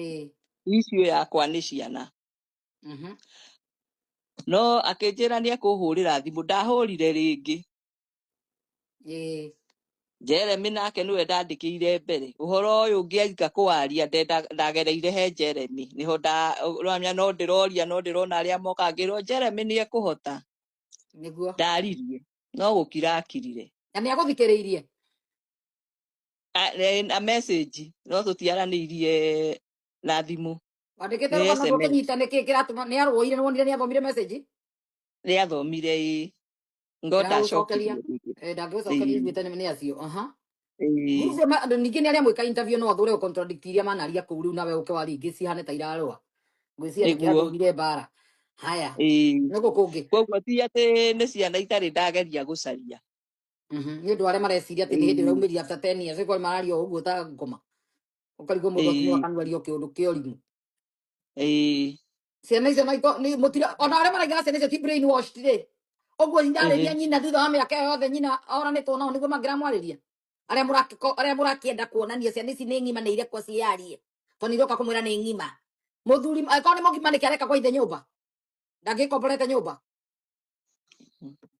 ĩĩ icio yakwa nĩ ciana mhm, no akĩnjĩra nĩ ekũhũrĩra thimũ ndahũrire rĩngĩ ĩĩ jeremi nake nĩwe ndandĩkĩire mbere ũhoro ũyũ ngĩarika kũwaria ndenda- ndagereire he jeremi nĩho nda- ũramenya no ndĩroria no ndĩrona arĩa moka ngĩrwo jeremi nĩ ekũhota nĩguo ndaririe no gũkira akirire na nĩ agũthikĩrĩirie A- ne- na message no tũtiaranĩirie na thimũ wandĩkĩte nĩ rũgano sms ndũkĩnyita nĩkĩ kĩratũma nĩ arũire nĩ wonire nĩ athomire message nĩ athomire ĩ ngo ndagũcokeria ndacokirie rĩngĩ Eh, ndangĩgũcokeria Ĩĩ, iguĩte nĩ nĩ acio aha ĩĩ. Group ma- andũ ningĩ nĩ arĩa mwĩka interview no athure contradict iria manaria kũu rĩu nawe ũke waria ingĩ cihane ta irarũa ngwĩciria nĩkĩo nĩguo athurire mbara haya Ĩĩ. nĩ gũkũ ngĩ koguo ti atĩ nĩ ciana itarĩ ndageria gũcaria Mhm. nĩ ũndũ arĩa mareciria atĩ nĩ hĩndĩ Ĩĩ, ũraumĩria after 10 years ĩkorwo mararia o ũguo ta ngoma ũkarigwo mũndũ akinyo ĩĩ, akanuaria o kĩũndũ kĩa ũrimũ ĩĩ, ciana icio no iko- nĩ mũtira ona arĩa maraigaga ciana icio ti brain washed rĩ ũguo irarĩria ĩhĩ, nyina thutha wa mĩaka ĩyo yothe nyina oranĩtwo nao nĩguo mangĩramwarĩria arĩa mũrakĩko- arĩa mũrakĩenda kuonania ciana ici nĩ ng'ima nĩ irekwo ciarie tondũ iroka kũmwĩra nĩ ng'ima mũthuri angĩkorwo nĩ mũgima nĩkĩ areka kwa ithe nyũmba ndangĩkomborete nyũmba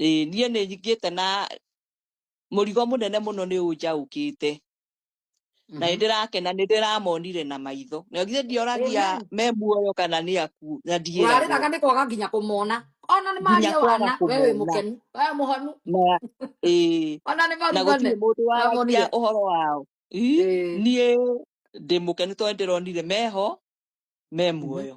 Ĩĩ, niĩ nĩ ngĩte na mũrigo mũnene mũno nĩ ũnjaũkĩte na nĩ Mhm. ndĩrakena nĩ ndĩramonire na maitho na githĩ ndioragia Amen. me muoyo kana nĩ akuũ na ndieragwo warĩraga nĩ kwaga nginya kũmona ona nĩ nginya maria kwaga wana we wĩ kũmona mũkenu we mũhonu na ĩĩ ona nĩ na maruga gũtirĩ nĩ mũndũ waragia wamonire ũhoro wao Ii, Ĩĩ. niĩ ndĩ mũkenu tondũ nĩ ndĩronire meho me Mhm. muoyo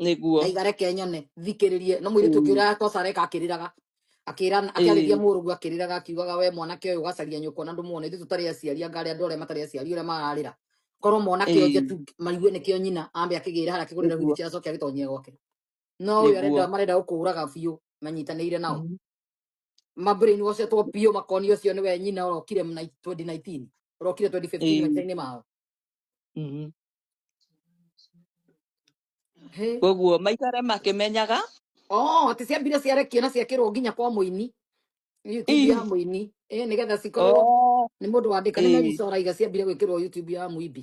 nĩguo ndaiga reke nyone thikĩrĩrie no mũirĩtu ũngĩ Mm. ũrĩa tosa areka akĩrĩraga akĩra akĩarĩria Ĩĩ. mũrũguo akĩrĩraga akiugaga we mwanake ũyũ ũgacaria nyũkwa na ndũmuone ithuĩ tũtarĩ aciari anga arĩa andũ arĩa matarĩ aciari ũrĩa mararĩra korwo mwanake ũyũ Ĩĩ. njetu maigue nĩkĩo nyina ambe akĩgĩra harĩa akĩgũrĩra nĩguo wheelchair acoke agĩtonyie gwake no ũyũ arenda nĩguo marenda gũkũraga biũ manyitanĩire nao Mhm. mambĩrĩini gocetwo biũ makoni ũcio nĩwe nyina ũrokire mna- 2019 ũrokire 2015 Ĩĩ. maica-inĩ mao Mhm. Hĩ. koguo maikare makĩmenyaga Oh, atĩ ciambire ciarekio na ciakĩrwo nginya kwa mũini YouTube ya ii mũini eh nigetha cikorwo oh, nĩ mũndũ wandĩka nĩ ĩ Mary Sora iga ciambire gwĩkĩrwo YouTube ya mũimbi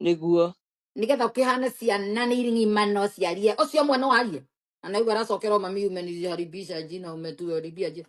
nĩguo nigetha ũkĩhane ciana nĩ iring'imano ciarie ũcio mwana warie na naigua aracokerwo mami umenirije haribisha jina umetuharibia jina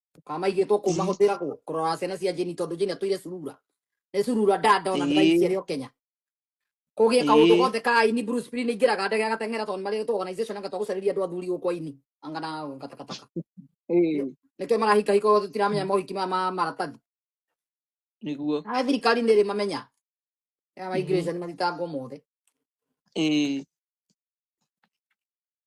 Tukamaigĩtwo kũ i mahũthĩra kũ kũrora ciana cia Jane tondũ Jane atũire curura. Nĩ curura nda ndona nĩ i baiciarĩ o Kenya. Kũgĩe kaũndũ i gothe ka aini Bruce Spring ingĩraga ndege agateng'era tondũ marĩ tũ organization anga twagũcarĩria andũ athuri gũkũ aini. Anga na gatakataka. Nĩkĩo i nĩkĩo marahika hika othe tũtiramenya mohiki maya ma maratathi. nĩguo Aya thirikari nĩ ĩrĩ mamenya. Ya Mhm. migration mathitangwo mothe. i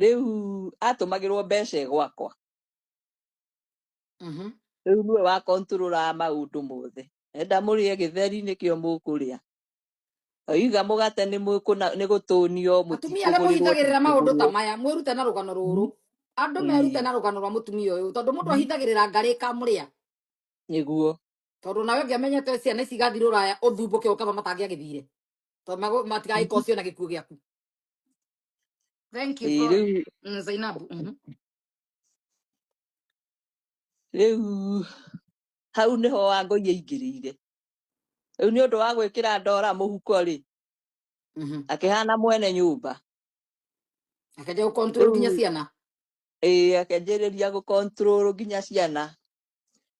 rĩu atũmagĩrwo mbeca ĩ gwakwa Mhm. rĩu nĩwe wa kontũrũraga maũndũ mothe enda mũrĩe gĩtheri nĩkĩo mũkũrĩa oiga mũgate nĩ mũkũna- nĩ gũtũnio atumia arĩa mũtikũgũrĩrwo mũhithagĩrĩra maũndũ ta mũtikũgũrwo maya mwĩrute na rũgano rũrũ andũ merute Ĩĩ, na rũgano rwa mũtumia ũyũ tondũ mũndũ ahithagĩrĩra ngarĩ kamũrĩa nĩguo tondũ nawe ũngĩamenyete ciana ici igathirwo raya ũthumbũke ũkaba matangĩagĩthire tondũ mago- matigagĩkorwo ciona gĩkuũ gĩaku thank you Ĩĩ, god rĩu Mm, zainabu mhm. rĩu hau nĩho wangũi aingĩrĩire rĩu nĩ ũndũ wa gwĩkĩra ndora mũhuko rĩ Mhm. akĩhana mwene nyũmba akaja gukontrol nginya rĩu ciana ĩĩ, akanjĩrĩria gũkontrol nginya ciana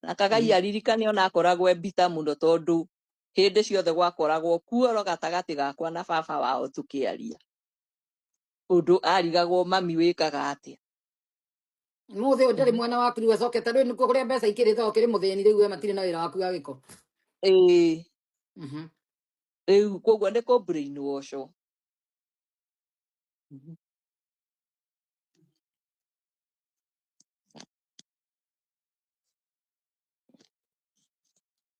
na kagai Mhm. aririkane ona akoragwo e mbita mũno tondũ hĩndĩ ciothe gwakoragwo kuoro gatagatĩ gakwa na baba wao tũkĩaria ũndũ arigagwo mami wĩkaga atĩa Mũthĩ ũnjarĩ Mhm. mwana waku rĩu acokete rĩu nĩkuo kũrĩa mbeca ikĩrĩ thao kĩrĩ mũthĩni rĩu we matirĩ na wĩra waku wa gĩko. ĩĩ Mhm. rĩu koguo nĩ kũ brain washo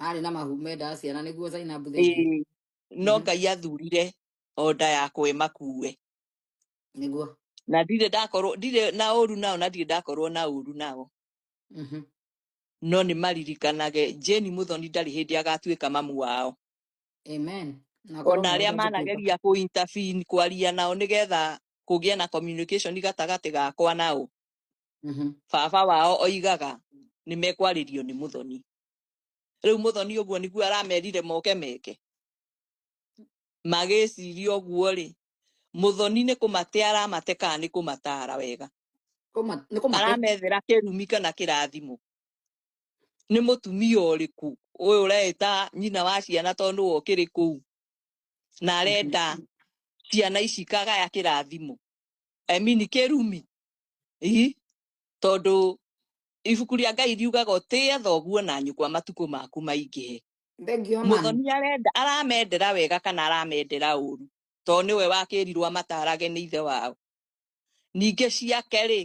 marĩ na mahu mendaga ciana nĩguo Zainabu thank you Ĩĩ, no Mhm. ngai athurire o nda yakwa ĩmakuue nĩguo na ndirĩ ndakorwo ndirĩ na ũru nao na ndirĩ ndakorwo na ũru nao Mhm. no nĩ maririkanage jeni mũthoni ndarĩ hĩndĩ agatuĩka mamu wao amen na korwo ona arĩa mũndũ ndũngĩtuĩka manageria kũ intervene kwaria nao nĩgetha kũgĩe na communication gatagatĩ gakwa nao Mhm. baba wao oigaga nĩ mekwarĩrio nĩ mũthoni riu muthoni uguo niguo aramerire moke meke magĩciria ũguo rĩ muthoni nĩ kũmate aramate kana nĩ kũmatara wega Kũma- nĩ kũmate aramethera kĩrumi kana kĩrathimo nĩ mũtumia ũrĩkũ ũyũ ũreta nyina wa ciana tondũ nĩwe ũkĩrĩ kũu na arenda ciana ici ikagaya kĩrathimo I mean kĩrumi Ii, tondũ Ibuku rĩa Ngai riugaga ũtĩe thoguo na nyũkwa matukũ maku maingĩhe. Thengio mami. Mũthoni arenda aramendera wega kana aramendera ũru to nĩwe wakĩrirwo amatarage nĩ ithe wao. Ningĩ ciake rĩ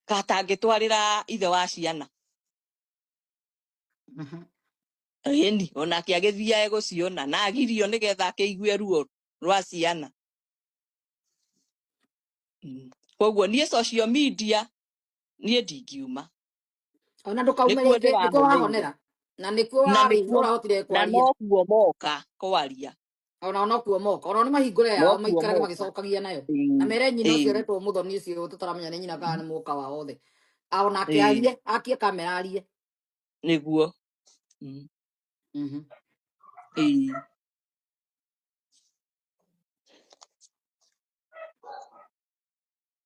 ka atangĩtwarĩra ithe wa ciana. Mhm. Ĩni onake agĩthiae gũciona na agirio nĩgetha akĩigue ruo rwa ciana. Mm. Koguo niĩ social media niĩ ndingiuma ona ndũkaume nĩkuo rĩngĩ nĩkuo ndĩramũthĩire wahonera na nĩkuo na warĩ nĩkuo ũrahotire na kwaria nokuo moka kwaria ona onokuo moka ona nĩ mahingũre yao nokuo maikarage moka magĩcokagia nayo na Ĩĩ, mere nyina ũcio ĩĩ, ũretwo mũthoni ũcio tũtaramenya nĩ nyina kana nĩ mũka wa othe A- onake ĩĩ, arie akie kamera arie nĩguo Mm, Mhm. ĩĩ.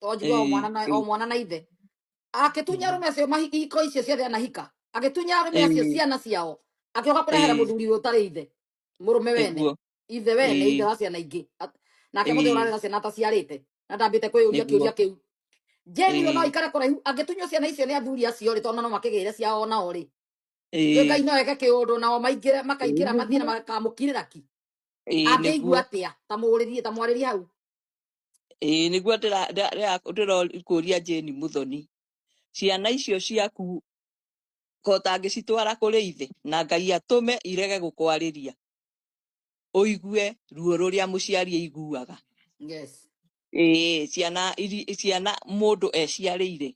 to njuge o mwana na o mwana na ithe agĩtunya arũme acio mahi- ihiko icio ciothe anahika agĩtunya arũme acio ciana ciao agĩũka kũrehera mũthuri ũrĩa ũtarĩ ithe mũrũme wene nĩguo ithe wene ithe wa ciana ingĩ At- nake mũthĩ ũrarĩ na ciana ataciarĩte na ndambĩte kwĩyũria nĩguo kĩũria kĩu jeni we no ikare kũraihu angĩtunywo ciana icio nĩ athuri acio rĩ tondũ no makĩgĩire ciao nao rĩ njuĩ ngai no eke kĩũndũ nao maingĩre makaingĩra mathiĩ na makamũkirĩra ki angĩigua atĩa tamũũrĩrie tamwarĩrie hau ĩĩ nĩguo ndĩra- ndĩra- ndĩra- ndĩrakũria Jane Muthoni ciana icio ciaku ko ũtangĩcitwara kũrĩ ithe na Ngai atũme irege gũkwarĩria ũigue ruo rũrĩa mũciari aiguaga yes ĩĩ ciana iri- ciana mũndũ eciarĩire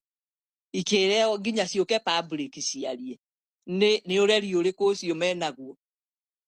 ikĩreo nginya ciũke public ciarie nĩ nĩ ũreri ũrĩkũ ũcio menaguo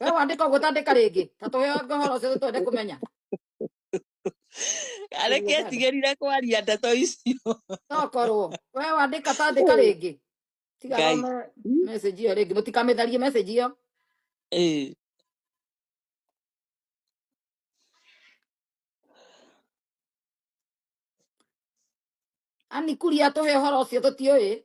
we wandika uguo tandika ringi ta tuhe ngahoro ucio twende kumenya Areke Tuge tandika etigĩrire kwaria ndeto icio. tokorwo we wandika tandika Hey, ringi tiga Ngai. thome Hmm? message iyo ringi mutikamĩtharie message iyo Eh, ani kuria tuhe horo ucio tutiũĩ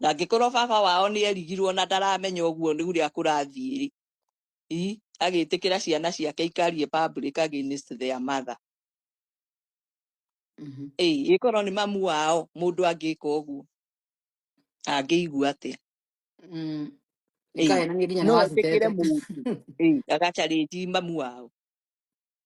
na angĩkorwo baba wao nĩ erigirwo na ndaramenya ũguo nĩ ũrĩa kũrathiĩ rĩ agĩtĩkĩra ciana ciake ikarie public against their mother Mhm. ĩĩ ĩkorwo nĩ mamu wao mũndũ angĩka ũguo angĩigua atĩa Mm. ĩĩ Ikae na nginya nĩ no etĩkĩre wacitete. mũndũ ĩĩ agacarĩnji mamu wao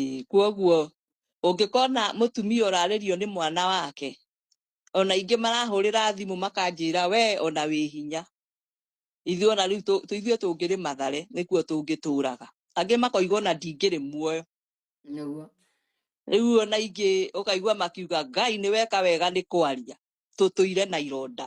Ĩĩ, kwoguo ũngĩkona mũtumia ũrarĩrio nĩ mwana wake ona ingĩ marahũrĩra thimũ makanjĩra we ona wĩ hinya ithuĩ ona rĩu tũ- tũ- ithuĩ tũngĩrĩ mathare nĩkuo tũngĩtũraga angĩ makoiga ona ndingĩrĩ muoyo nĩguo rĩu ona ingĩ ũkaigua makiuga ngai nĩ weka wega nĩ kwaria tũtũire na ironda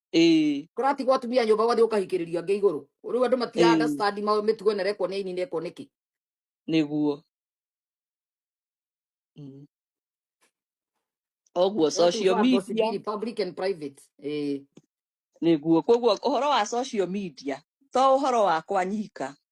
ĩĩ kuratigwo atumia nyũmba wathiĩ ũkahikĩrĩria ngĩ igũrũ rĩu andũ matia ĩĩ understand ma mĩtugo ĩno rekwo nĩ aini nekwo nĩkĩ nĩguo Mm. ũguo those who social are gossiping media in public and private eh nĩguo koguo ũhoro wa social media to ũhoro wakwa nyika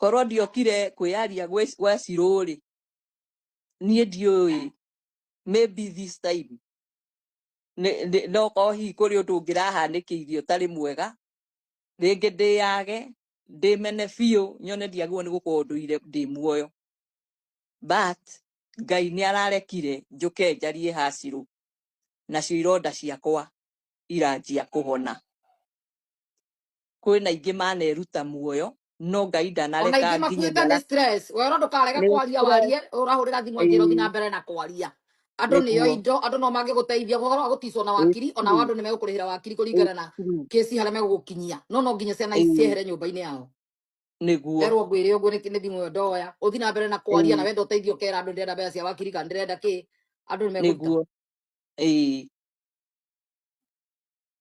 korwo ndiokire kwĩyaria gwĩ- gwa cirũ rĩ niĩ ndiũĩ maybe this time nĩ- nĩ- no korwo hihi kũrĩ ũndũ ũngĩrahanĩkĩirie ũtarĩ mwega rĩngĩ ndĩyage ndĩmene biũ nyone ndiagĩrĩirwo nĩ gũkorwo ndũire ndĩ muoyo but ngai nĩ ararekire njũke njarie hacirũ nacio ironda ciakwa iranjia kũhona kwĩna ingĩ maneruta muoyo no ngai ona ingĩ ndanareka nginya makuĩte nĩ ndara stress we no ndũkarege nĩ kwaria stress warie ũrahũrĩra thimũ angĩra ũthiĩ na ĩĩ mbere na kwaria andũ nĩo nĩguo indo andũ no mangĩgũteithia ũhoro wa gũticwo na ĩĩ wakiri ona wa true andũ nĩ megũkũrĩhĩra wakiri ĩĩ kũringana na true kĩsi harĩa megũgũkinyia no no nginya ciana ici ĩĩ ciehere nyũmba-inĩ yao nĩguo nderwo ngwĩre ũguo nĩ nĩ thimũ ĩyo ndoya ũthi na mbere na kwaria na ĩĩ wenda ũteithio ũkera andũ ndĩrenda mbeca cia wakiri kana ndĩrenda kĩ andũ nĩ megũruta nĩguo ĩĩ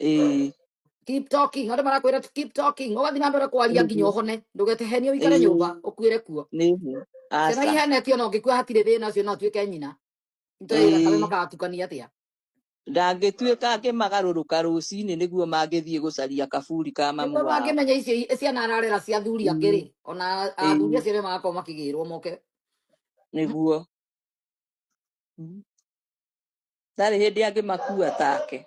ĩĩ keep talking andå marakwä keep talking å gathiä na mbere kwaria nginya å nĩguo hone ndå getehenio wikare nyå mba ĩĩ å kuä re kuo nĩguo ciana aca ihenetio na å ngä kua hatirä thä na å cio no atuä ke nyina itå ä gatagä ĩĩ makatukania atä a ndangĩtuĩka akĩmagarũrũka rũcinĩ nĩguo mangĩthiĩ gũcaria kaburi ka mamu nĩguo wao mangĩmenya icio i- ciana ararera cia athuri angĩ Ĩĩ, rĩ ona athuri ĩĩ, acio nĩ magakorwo makĩgä rwo moke nĩguo Mm. ndarĩ hĩndĩ angĩmakua take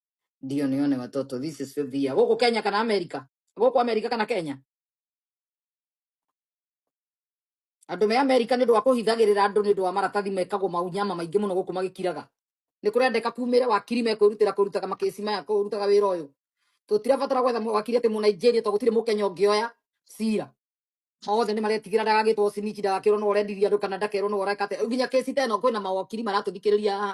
ndio nione watoto this is fifth year gũkũ kenya kana america gũkũ america kana kenya andũ me america nĩ ũndũ wa kũhithagĩrĩra andũ nĩ ũndũ wa maratathi mekagwo maunyama maingĩ mũno gũkũ magĩkiraga nĩ kũrendeka kumĩre wakiri mekwĩrutĩra kũrutaga makĩci maya kũrutaga wĩra ũyũ tũtirabatara gwetha mũ- wakiri atĩ mũnaijeria tondũ gũtirĩ mũkenya ũngĩoya cira othe nĩ maretigĩra ndagagĩtwo cinici ndagakĩrwo no ũrendiria andũ kana ndakerwo no ũreka atĩa nginya kĩci teno kwĩna mawakiri maratũthikĩrĩria haha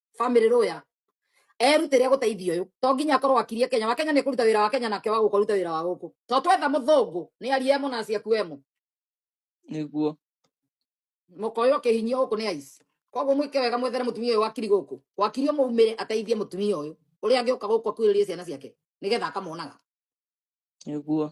family lawyer erutire guteithia uyu to nginya akorwo akirie Kenya wa Kenya ni kuruta wira wa Kenya nake wa guko ruta wira wa guku to twetha muthungu ni arie mu na acia kuemu niguo mukoyo kihinyio guku ni aici koguo mwike wega mwethere mutumia uyu wakiri guku wakiri umuumire ateithie mutumia uyu uria angi uka guku akuiririe ciana ciake nigetha akamonaga niguo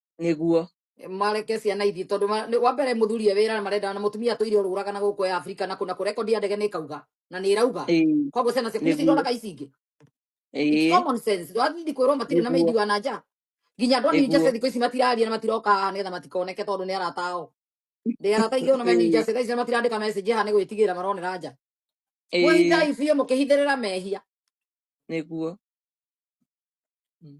niguo mareke ciana ithiĩ tondũ ma- nĩ- wa mbere mũthuri e wĩra na marenda na mũtumia tũire ũrũraga na gũkũ ya Afrika na kũna kũ rekondi ya ndege nĩ ĩkauga na nĩ ĩrauga Ĩĩ, koguo ciana ciaku nĩguo nĩciroraka ici ingĩ it's Ĩĩ, common sense wathindi kwĩrwo matirĩ na nĩguo mendi wa na nja nginya andũ a New Jersey nĩguo thikũ ici matiraria na matiroka haha nĩgetha matikoneke tondũ nĩ arata ao ndĩ arata ingĩ ona me New Ĩĩ, Jersey thaa ici matirandĩka message haha nĩ gwĩtigĩra maronera nja ĩĩ, mwĩhithai biũ mũkĩhithĩrĩra mehia nĩguo Mm.